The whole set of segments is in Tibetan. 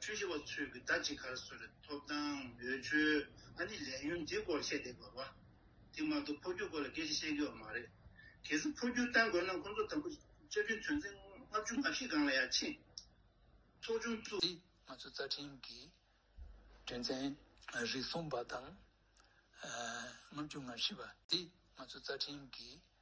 ཆོས་བྱེད་པ་ཚོས་ཀྱི་ཟླ་གཅིག་གར་སོས་པའི་ཐོབ་ཐང་འོས་ཆོས་ཨ་ནི་ལས་ཡུན་འདི་སྐོར་བཤད་བསྡད་དགོས་པ། དེ་མ་གཏོགས་ཕོ་རྒྱུད་སྐོར་ལ་སྐད་ཆ་བཤད་དགོས་པ་མ་རེད། གལ་སྲིད་ཕོ་རྒྱུད་གཏང་དགོས་ན་ཁོང་ཚོ་དང་པོ་བཅའ་ཁྲིམས་དོན་ཚན་ལྔ་བཅུ་ང་བཞི་སྒང་ལ་ཡར་ཕྱིན་ཚོགས་ཆུང་བཙུགས། ང་ཚོ་རྩ་ཁྲིམས་ཀྱི་དོན་ཚན་རིགས་གསུམ་པ་དང་ལྔ་བཅུ་ང་བཞི་པ་དེ་ང་ཚོ་རྩ་ཁྲིམས་ཀྱི་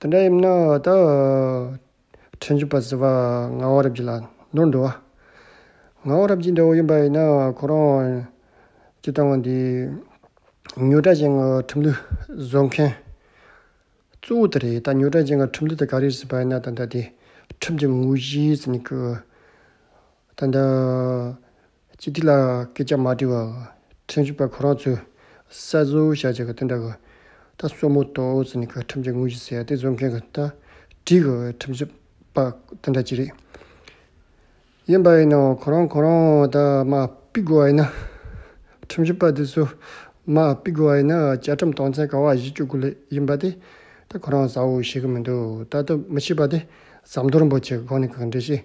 དེ་འདྲ་ཡིན་ན་ད་ཕྲན་བྱིས་པ་ཟེར་བ་ངག་དབང་རབ་རྒྱས་ལ་ནོར་འགྲོ། ངག་དབང་རབ་རྒྱས་འདྲ་བོ་ཡིན་པ་ཡིན་ན་ཁོ་རང་ཀྱི་བཏང་བ་འདི་ཉོ་གྲྭ་ཅན་གྱི་ཁྲིམས་ལུགས་བཟོ་མཁན་གཙོ་བོ་དེ་རེད་ད་ཉོ་གྲྭ་ཅན་གྱི་ཁྲིམས་ལུགས་དེ་ག་རེ་ཟེར་བ་ཡིན་ན་ད་ད་དེ་ཁྲིམས་ཀྱི་དངོས་གཞི་ཟེར་ནི་གི་ད་ད། སྤྱི་ཐིག་ལ་སྐད་ཆ་མ་བྲིས་པར་ཁྲིམས་ཞིབ་པ་ཁོ་རང་ཚོས་གསལ་བཟོ་བྱ་བྱས་པ་དེ་འདྲ་གི། ད་གསོལ་མོ་ཏོ་ཟེར་ནས་གི་ཁྲིམས་ཀྱི་དངོས་གཞི་ཟེར་ཡག་དེ་བཟོ་མཁན་གི་ད་བྲིས་གི་ཁྲིམས་ཞིབ་པ་དེ་འདྲ་གྱི་རེད། ཡིན་པ་ཡིན་ནའང་ཁོ་རང་ཁོ་རང་ད་མ་དཔེ་དགོས་བ་ཡིན་ན། ཁྲིམས་ཞིབ་པ་དེ་ཚོ་མ་དཔེ་དགོས་བ་ཡིན་ན་བཅའ་ཁྲིམས་སྟངས་འཛིན་ག་བ་བཞི་བཅུ་དགུ་ལས་ཡིན་པ་དེ་ད་ཁོ་རང་བཟའ་བོ་ཤེས་གི་མི་འདུག་ད་ལྟ་མི་ཤེས་པ་དེ་ཟམ་གདོར་འབོད་བྱེད་གི་སྒང་ནས་གི་འགྲེལ་བཤད